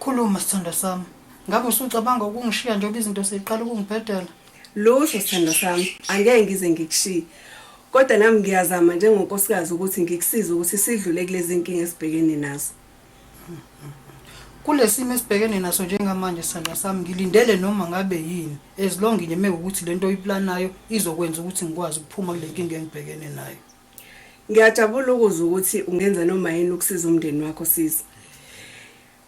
Khuluma sithandwa sami. Ngabe usucabanga ukungishiya njengoba izinto seziqala ukungibhedela? Lutho sithandwa sami, angeke ngize ngikushiye. Kodwa nami ngiyazama njengonkosikazi ukuthi ngikusize ukuthi sidlule kulezi nkinga esibhekene nazo. Kulesimo esibhekene naso njengamanje sithandwa sami ngilindele noma ngabe yini as long ngime ukuthi lento oyiplanayo izokwenza ukuthi ngikwazi ukuphuma kule nkinga engibhekene nayo. Ngiyajabula ukuzwa ukuthi ungenza noma yini ukusiza umndeni wakho sisi.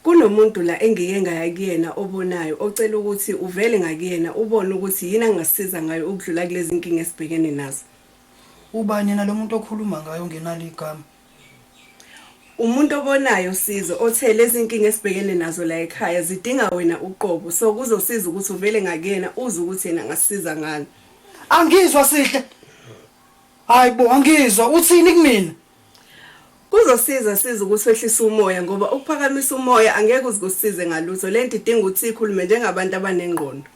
Kunomuntu la engike ngaya kuyena obonayo ocela ukuthi uvele ngakuyena ubone ukuthi yini angasisiza ngayo ukudlula kulezi nkinga esibhekene nazo. Ubani yena lo muntu okhuluma ngayo ongenalo igama? Umuntu obonayo usizo othe lezi nkinga esibhekene nazo la ekhaya zidinga wena uqobo so kuzosiza ukuthi uvele ngakuyena uze ukuthi yena angasisiza ngani. Angizwa sihle. Hayi bo angizwa uthini kumina? Kuzosiza siza ukuthi wehlise umoya ngoba ukuphakamisa umoya angeke uzikusize ngalutho lento idinga ukuthi ikhulume njengabantu abanengqondo.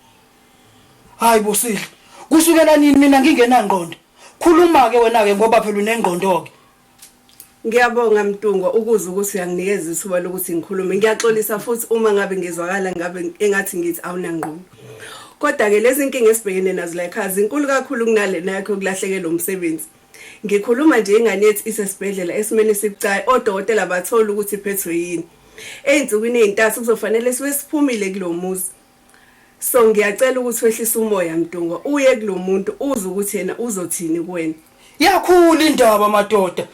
Hayi bo sihle. Kusukela nini mina ngingenangqondo? Khuluma ke wena ke ngoba phela unengqondo ke. Ngiyabonga Mtungwa ukuze ukuthi uyanginikeza ithuba lokuthi ngikhulume. Ngiyaxolisa futhi uma ngabe ngizwakala ngabe engathi ngithi awunangqondo. Kodwa ke lezi inkinga esibhekene nazo la ekhaya zinkulu kakhulu kunalena yakho kulahlekelwa umsebenzi. Ngikhuluma nje ingane yethu isesibhedlela esimeni esibucayi odokotela bathola ukuthi iphethwe yini. Ezinsukwini ezintathu kuzofanele sibe siphumile kulomuzi. So ngiyacela ukuthi wehlise umoya Mdungwa uye kulomuntu uze ukuthi yena uzothini kuwena. Yakhula indaba madoda.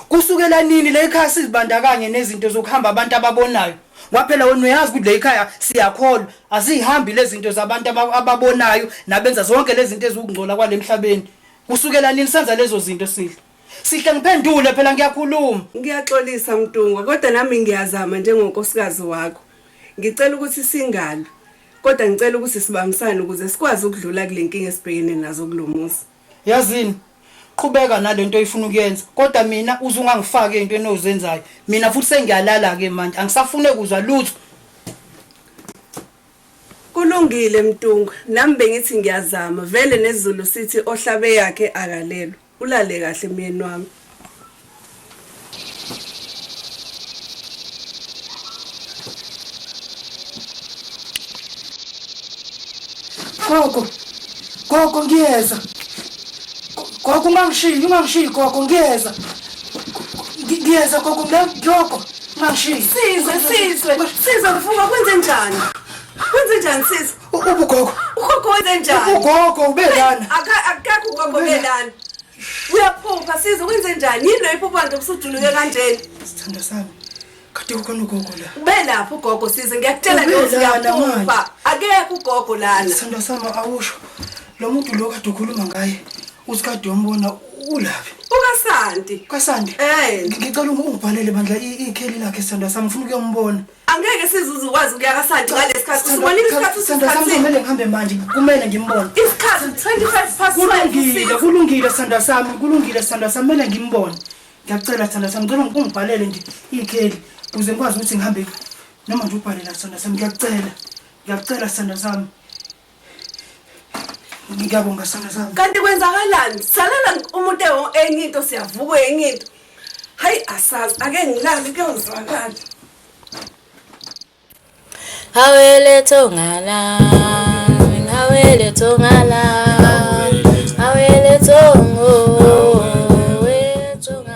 Kusukela nini le ekhaya sizibandakanye nezinto zokuhamba abantu ababonayo? Kwaphela wena uyazi ukuthi le ekhaya siyakholwa azihambi lezi zinto zabantu aba- ababonayo nabenza zonke lezi zinto ezikungcola kwalemhlabeni. Kusukela nini senza lezo zinto sidla? Sihle ngiphendule phela ngiyakhuluma. Ngiyaxolisa Mtungwa kodwa nami ngiyazama njengonkosikazi wakho. Ngicela ukuthi singalwi kodwa ngicela ukuthi sibambisane ukuze sikwazi ukudlula kule nkinga esibhekene nazo kulomuzi. Yazini qhubeka nalento oyifuna ukuyenza kodwa mina uze ungangifaki into enozenzayo. Mina futhi sengiyalala ke manje angisafune kuzwa lutho. Kulungile Mtungwa, nami bengithi ngiyazama. Vele nezulu sithi ohlabe yakhe akalelwa. Ulale kahle myeni wami. Gogo. Gogo ngiyeza. Gogo ungangishiyi, ungangishiyi gogo ngiyeza. Ngiyeza gogo ngiyoko. Ungangishiyi. Sizwe, sizwe. Sizwe mfunga kwenze njani? Kwenze njani sizwe? ugogo ugogo wenze njani ugogo ubelana akakho ugogo ubelana uyaphupha size wenze njani yini loyo iphupha nje kusuduluke kanjena sithanda sami kade kukhona ugogo la ubelapha ugogo size ngiyakutshela nje uyaphupha akekho ugogo lana sithanda sami awusho lo muntu lo kade ukhuluma ngaye uthi kade wambona ulaphi ukasanti kasanti eh ngicela ungibhalele bandla ikheli lakhe sithanda sami ngifuna ukuyombona angeke sizuze ukwazi ukuya kasaji ngalesi khathi usibona isikhathi usithathile ngihambe manje kumele ngimbone isikhathi 25 past kulungile kulungile sandwa sami kulungile sandwa sami kumele ngimbone ngiyakucela sandwa sami ngicela ungibhalele nje ikheli ukuze ngikwazi ukuthi ngihambe noma nje ubhalela sandwa sami ngiyakucela ngiyakucela sandwa sami ngiyabonga sana sami kanti kwenzakalani salala umuntu enye into siyavuka enye into hayi asazi ake ngilale kuyozwakala hawele thongala hawele thongala hawele thongo